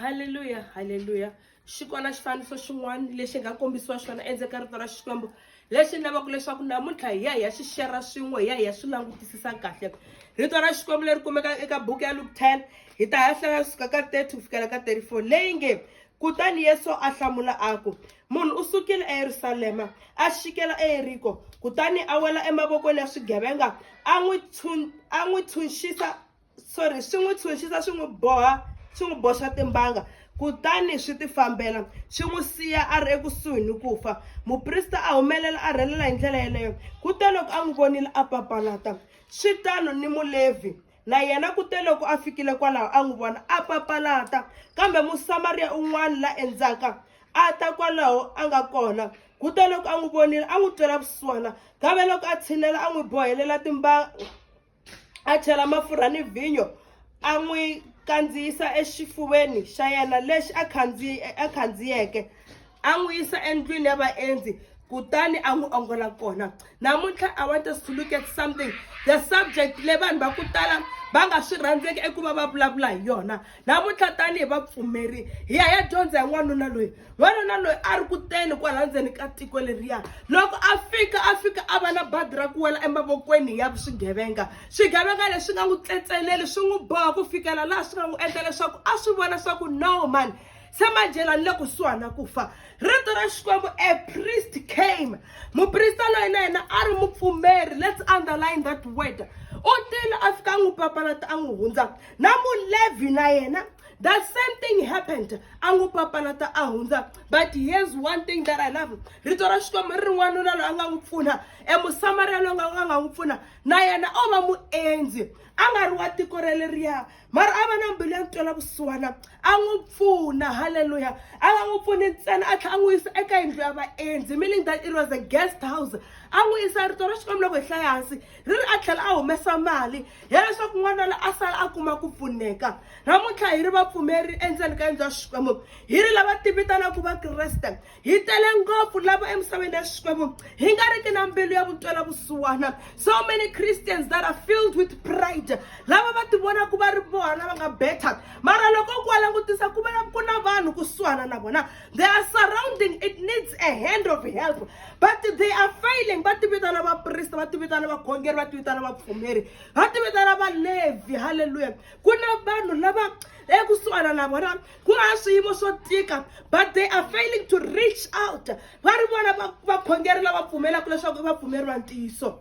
halleluya halleluya xi kona xifaniso xin'wana lexi nga kombisiwa xona endzeni ka rito ra xikwembu lexi ni lavaka leswaku namuntlha hi ya hi ya xi xera swin'we hi ya hi ya swi langutisisa kahle rito ra xikwembu leri kumeka eka buku ya luke 10 hi ta ha hlaya suka ka 30 ku fikela ka 34 leyi nge kutani yesu a hlamula a ku munhu u sukile eyerusalema a xikela eyeriko kutani a wela emavokweni ya swigevenga a n'wi tshunxisa sorry swi n'wi tshunxisa swi n'wi boha swi n'wi boxa timbanga kutani swi tifambela swi n'wi siya a ri ekusuhi ni ku fa muprista a humelela a rhelela hi ndlela yeleyo kute loko a n'wi vonile a papalata swi tano ni mulevhi na yena kute loko a fikile kwalaho a n'wi vona a papalata kambe musamariya un'wana la endzaka a ta kwalaho a nga kona kute loko a n'wi vonile a n'wi twela vusiwana kambe loko a tshinela a n'wi bohelela timbanga a chela mafurha ni vhinyo a n'wi kandziyisa exifuveni xa yena lexi a khandziye a khandziyeke a n'wi yisa endlwini ya vaendzi kutani a n'wi ongola kona namuntlha i want us to look at something the subject leyi vanhu va ku tala va nga swi rhandzeki eku va va vulavula hi yona namuntlha tanihi vapfumeri hi ya ya dyondza hi n'wanuna loyi n'wanuna loyi a ri kuteni kwala ndzeni ka tiko leriya loko a fika a fika a va na badi ra ku wela emavokweni ya swigevenga swigevenga leswi nga n'wi tletseleli swi n'wi boha ku fikela laha swi nga n'wi endla leswaku a swi vona swa ku no mani se manjhela ni le kusuhani na ku fa rito ra xikwembu a priest came muprista loyi na yena a ri mupfumeri let's underline that word u tile a fika a n'wi papalata a n'wi hundza na mulevi na yena the same thing happened a n'wi papalata a hundza but here's one thing that i love rito ra xikwembu ri ri n'wanuna loyi a nga n'wi pfuna emusamariya loyi nga nga nga n'wi pfuna na yena o va muendzi a nga ri wa tiko ra leriya mara a va na mbilu ya ntwela vusiwana a n'wi pfuna halleluya a nga n'wi pfuni ntsena a tlhela a n'wi yisa eka yindlu ya vaendzi meaning that it was a guest house a n'wi yisa rito ra xikwembu loko hi hlaya hansi ri ri a tlhela a humesa mali ya leswaku n'wana la a sala a kuma ku pfuneka namuntlha hi ri vapfumeri endzeni ka yindlu ya xikwembu hi ri lava tivitanaka vakreste hi tele ngopfu lava emisaveni ya xikwembu hi nga riki na mbilu ya vutwela vusiwana so many christians that are filled with pride lava va tivonaku va ri vona va nga better mara loko ku va langutisa ku va ku na vanhu kusuhana na vona they are surrounding it needs a hand of help but they are failing va ti vitana vaprista va ti vitana vakhongeri va ti vitana vapfumeri va ti vitana valevhi halleluya ku na vanhu lava ekusuhana na vona ku nga swiyimo swo tika but they are failing to reach out va ri vona vakhongeri lava pfumelaka leswaku i vapfumeri va ntiyiso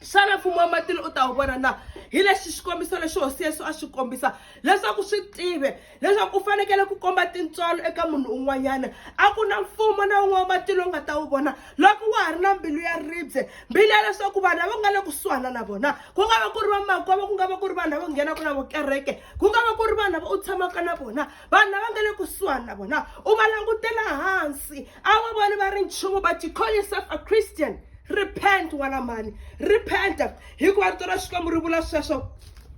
xana mfumo wa matilo u ta wu vona na hi lexi xikombiso lexi hosi yesu a xi kombisa leswaku swi tive leswaku u fanekele ku komba tintswalo eka munhu un'wanyana a ku na mfumo na un'we wa matilo u nga ta wu vona loko wa ha ri na mbilu ya ribye mbilu ya leswaku vanhu lava nga le kusuhana na vona ku nga va ku ri vamakwavo ku nga va ku ri vanhu lava nghenaka na vukereke ku nga va ku ri vanhu lava u tshamaka na vona vanhu lava nga le kusuhana na vona u va langutela hansi a wu voni va ri nchumu but you call yourself a christian repent wena mhani repent hikuva rito ra xikwembu ri vula sweswo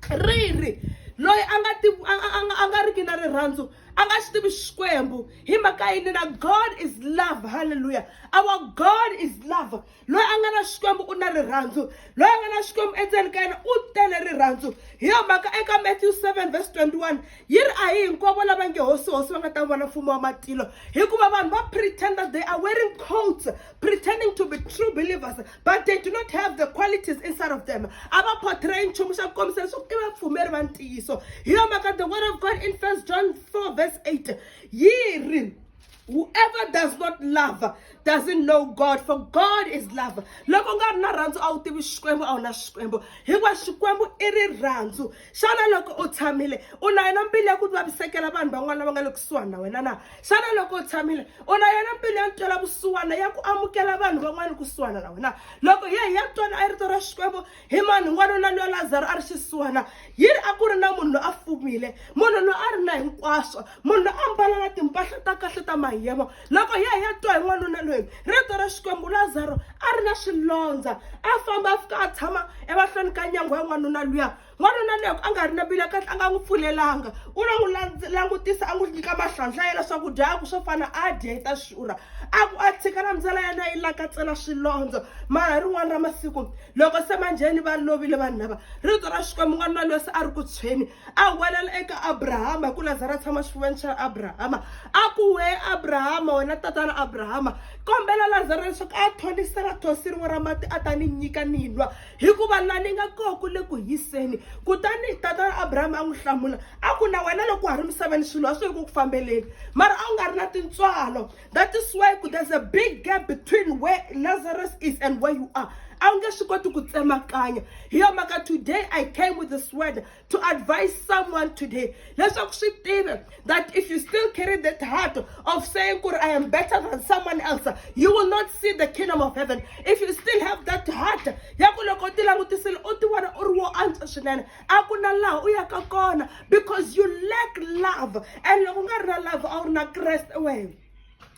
ri ri loyi a nga ti a- a- a nga- a nga riki na rirhandzu a nga xi tivi xikwembu hi mhaka yini na god is love halleluya our god is love loyi a nga na xikwembu u na rirhandzu loyi a nga na xikwembu endzeni ka yena u tele rirhandzu hi yo mhaka eka matthew 7 verse 21 yi ri a hi hinkwavo lava nge hosi hosi va nga ta vona mfumo wa matilo hikuva vanhu va pretender they are wearing coats pretending to be true believers but they do not have the qualities inside of them a va portray nchumu xa ku kombisa leswaku i vapfumeri va ntiyiso hi yo mhaka the word of god in first john 4 verse 8 yi ri Whoever does not love doesn't know God for God is love. Loko nga ri na rhandzu a wu tivi Xikwembu a wu na Xikwembu. Hikuva Xikwembu i rirhandzu. Xana loko u tshamile u na yona mbilu ya ku vavisekela vanhu van'wana lava nga le kusuhani na wena na? Xana loko u tshamile u na yona mbilu ya ntwela vusiwana ya ku amukela vanhu van'wana kusuhana na wena? Loko hi ya hi ya twana a rito ra Xikwembu Hi mani n'wanuna loyi Lazaro a ri xisiwana? Yini a ku ri na munhu loyi a fumile, munhu loyi a ri na hinkwaswo, munhu loyi a mbala na timpahla ta kahle ta mahiyemo. Loko ya ya twa hi n'wanuna loyi, rito ra Xikwembu, Lazaro a ri na swilondza, a famba a fika a tshama emahlweni ka nyango ya n'wanuna luya. N'wanuna loyi a nga ri na mbilu ya kahle a nga n'wi pfulelanga, u lo n'wi langutisa a n'wi nyika mahlandla yena swakudya a ku swo fana a dya yi ta xurha. A ku a tshika na ndlela yena yi lakatsela swilondza mara hi rin'wana ra masiku loko se manjheni va lovile vanhu lava rito ra xikwembu n'wana loyi loyi se a ri ku tshweni a welela eka abrahama hi ku lazara a tshama xifuveni xa abrahama a ku we abrahama wena tatana abrahama kombela lazara leswaku a thonisela thosi rin'we ra mati a ta ni nyika ni nwa hikuva la ni nga koho ku le ku hiseni kutani tatana abrahama a n'wi hlamula a ku na wena loko wa ha ri misaveni swilo a swi ri ku ku fambeleni mara a wu nga ri na tintswalo that is why there's a big gap between where lazarus is and where you are a wu nge swi koti ku tsemakanya hi yo mhaka today i came with this word to advise someone today leswaku swi tive that if you still carry that heart of saying ku i am better than someone else you will not see the kingdom of heaven if you still have that heart ya ku loko u ti langutisile u ti vona u ri wo antswa swinene a ku na laha u yaka kona because you lack love and loko u nga ri na love a wu ri na kreste wena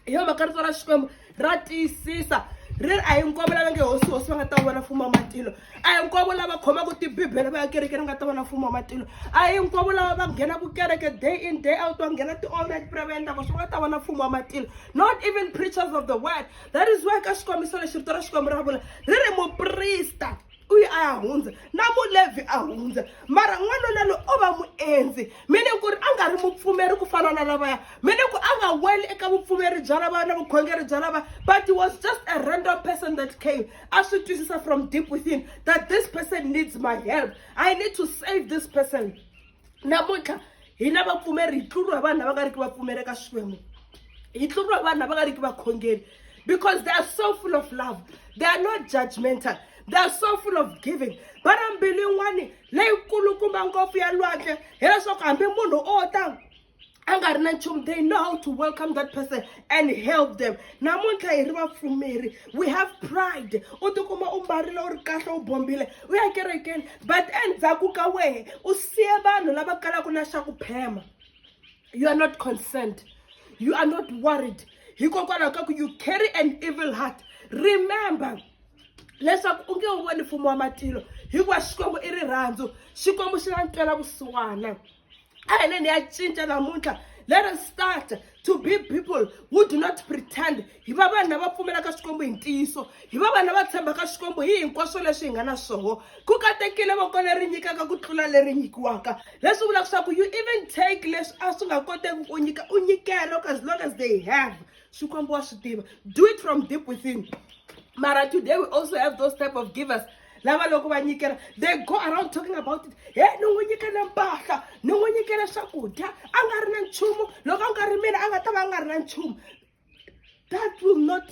hi yo mhaka rito ra xikwembu ra tiyisisa ri a hi nkwavo lava nge hosi hosi va nga ta vona mfumo wa matilo a hi nkwavo lava khomaka tibibele va ya kereke ri nga ta vona mfumo wa matilo a hi nkwavo lava va nghenaka kereke day in day out va nghena ti-all night prayer va endlaka swi nga ta vona mfumo wa matilo not even preachers of the word that is why ka xikombiso lexi rito ra xikwembu ra vula ri ri muprista u yi a ya hundza na mulevhi a hundza mara n'wanuna loyi o va muendzi meaning ku ri a nga ri mupfumeri ku fana na lavaya meaning ku a nga weli eka vupfumeri bya lavaya na vukhongeri bya lava but he was just a random person that came a swi twisisa from deep within that this person needs my help i need to save this person namuntlha hina vapfumeri hi tluriwa hi vanhu lava nga ri ki vapfumeri eka xikwembu hi tluriwa hi vanhu lava nga ri ki vakhongeri because they are so full of love they are not judgmental they are so full of giving va na mbilu yin'wani leyikulukumba ngopfu ya lwandle hileswaku hambi munhu o ta a nga ri na nchumu they know how to welcome that person and help them namuntlha hi ri vapfumeri we have pride u tikuma u mbarile u ri kahle u bombile u ya kerekeni but endzhaku ka wehe u siye vanhu lava kalaka na xa ku phema you are not concerned you are not worried hikokwalaho ka ku you carry an evil heart remember leswaku u nge wu voni mfumo wa matilo hikuva xikwembu i rirhandzu xikwembu xi na ntwela vusiwana a hi leni ya cinca namuntlha let us start to be people who do not pretend hi va vanhu lava pfumelaka xikwembu hi ntiyiso hi va vanhu lava tshembaka xikwembu hi hinkwaswo leswi hi nga na swoho ku katekile voko leri nyikaka ku tlula leri nyikiwaka leswi vulaka swa ku you even take leswi a swi nga koteki ku nyika u nyikela as long as they have xikwembu wa swi tiva do it from deep within mara today we also have those type of givers lava loko va nyikela they go around talking about it he ni n'wi nyikele mpahla ni n'wi nyikele swakudya a nga ri na nchumu loko a nga ri mina a nga ta va a nga ri na nchumu that will not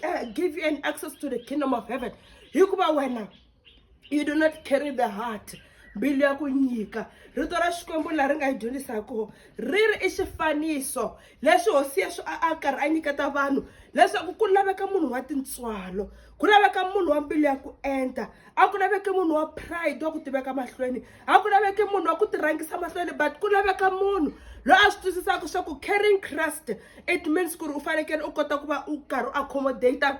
uh, give you an access to the kingdom of heaven hikuva wena you do not carry the heart mbilu ya ku nyika rito ra xikwembu leri nga yi dyondzisaka ri ri i xifaniso leswi hosi yesu a a karhi a nyiketa vanhu leswaku ku laveka munhu wa tintswalo ku laveka munhu wa mbilu ya ku enta a ku laveki munhu wa pride wa ku tiveka mahlweni a ku laveki munhu wa ku tirhangisa mahlweni but ku laveka munhu loyi a swi twisisaka swa ku caring christ it means ku ri u fanekele u kota ku va u karhi u accommodate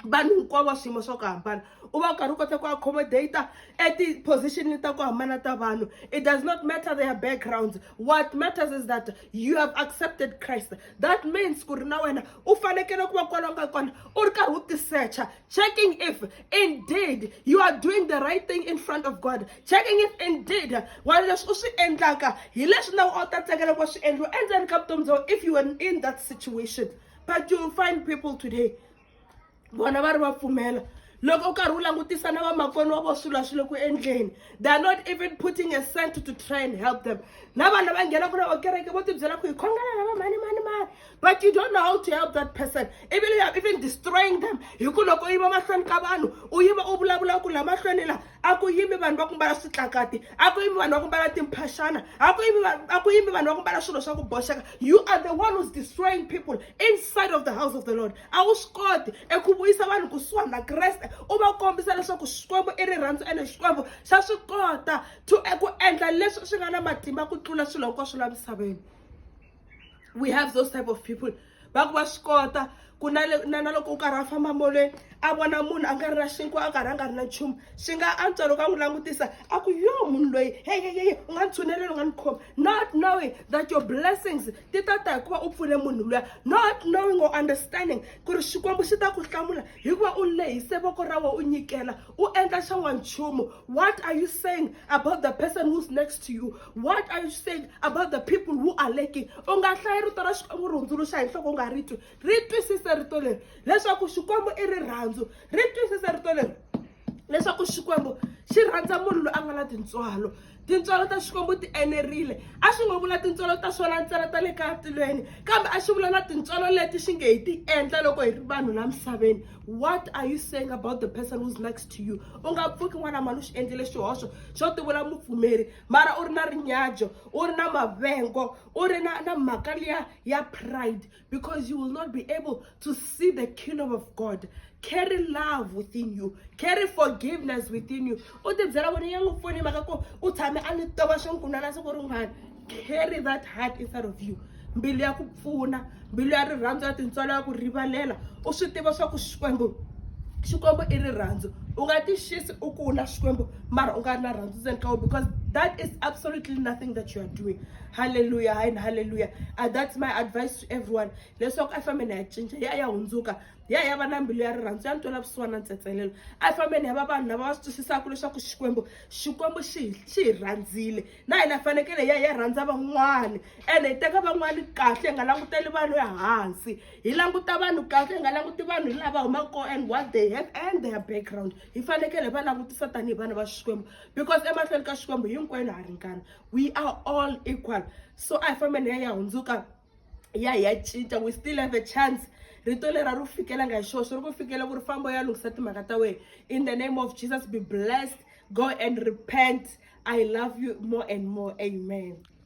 vanhu hinkwavo wa swiyimo swa ku hambana u va u karhi u kota ku accommodate eti-position ta ku hambana ta vanhu it does not matter their backgrounds what matters is that you have accepted christ that means ku ri na wena u fanekele ku va kwala nga kona u ri karhi u tisecha checking if indeed you are doing the right thing in front of god checking if indeed wa leswi u swi endlaka hi leswi na a wu ta tsakela ku va swi endliwa endzeni ka vutomi bya if you were in that situation but you find people today vona va ri va pfumela loko u karhi u langutisa na vamakoni wa vo swilo swi le ku endleni they are not even putting a cent to try and help them na vanhu va nghenaka na vakereke vo tibyela ku hi khongela lava mani mani mani but you don't know how to help that person even you are even destroying them hi ku loko u yiva mahlweni ka vanhu u yiva u vulavula ku la mahlweni la a ku yimi vanhu va ku mbala switlakati a ku yimi vanhu va ku mbala timphaxana a ku yimi a ku yimi vanhu va ku mbala swilo swa ku boxeka you are the one who's destroying people inside of the house of the lord a wu swi koti eku vuyisa vanhu kusuhani na kreste u va kombisa leswaku xikwembu i rirhandzu ene xikwembu xa swi kota to eku endla leswi swi nga na matimba ku tlula swilo hinkwaswo la misaveni we have those type of people va ku va swi kota ku na na na loko u karhi a famba molweni a vona munhu a nga ri na xinkwa a karhi a nga ri na nchumu swi nga antswa loko a n'wi langutisa a ku yo munhu loyi heyeyeye u nga ni tshuneleli u nga ni khoma not knowing that your blessings ti ta ta hikuva u pfune munhu luya not knowing or understanding ku ri xikwembu xi ta ku hlamula hikuva u lehise voko ra wena u nyikela u endla xa n'wanchumu what are you saying about the person who's next to you what are you saying about the people who are lacking u nga hlayi rito ra xikwembu ri hundzuluxa hi nhloko u nga ri twi ri twisise rito leri leswaku xikwembu i rirhandzu ri twisise rito leri leswaku xikwembu xi rhandza munhu loyi a nga na tintswalo tintswalo ta xikwembu ti enerile a swi ngo vula tintswalo ta swona ntsena ta le ka tilweni kambe a swi vula na tintswalo leti swi nge hi ti endla loko hi ri vanhu la misaveni what are you saying about the person who's next to you u nga pfuki n'wana mali u xi endlile xihoxo xo ti vula mupfumeri mara u ri na rinyajo u ri na mavengo u ri na na mhaka liya ya pride because you will not be able to see the kingdom of God. Carry love within you. Carry forgiveness within you. Carry that heart inside of you. mbilu ya ku pfuna mbilu ya rirhandzu ya tintswalo ya ku rivalela u swi tiva swa ku xikwembu xikwembu i rirhandzu u nga ti xisi u kula xikwembu mara u nga ri na rhandzu ndzeni ka wena because that is absolutely nothing that you are doing halleluya hayi ni halleluya a that's my advice to everyone leswaku a fambeni ya cinca ya ya hundzuka ya ya va na mbilu ya rirhandzu ya ni twela vusiwana na ntsetselelo a fambeni ya va vanhu lava va swi twisisaka leswaku xikwembu xikwembu xi xi hi rhandzile na hina fanekele ya ya rhandza van'wani ene hi teka van'wani kahle hi nga languteli vanhu ehansi hi languta vanhu kahle hi nga languti vanhu hi laha va humaka kona and what they have and their background hi fanekele hi va langutisa tanihi vana va xikwembu because emahlweni ka xikwembu hinkwenu ha ringana we are all equal so a hi fambeni ya ya hundzuka ya hi ya cinca we still have a chance rito leri a ri fikelanga hi xoxo ri ku fikela ku ri famba u ya lunghisa timhaka ta wena in the name of jesus be blessed go and repent i love you more and more amen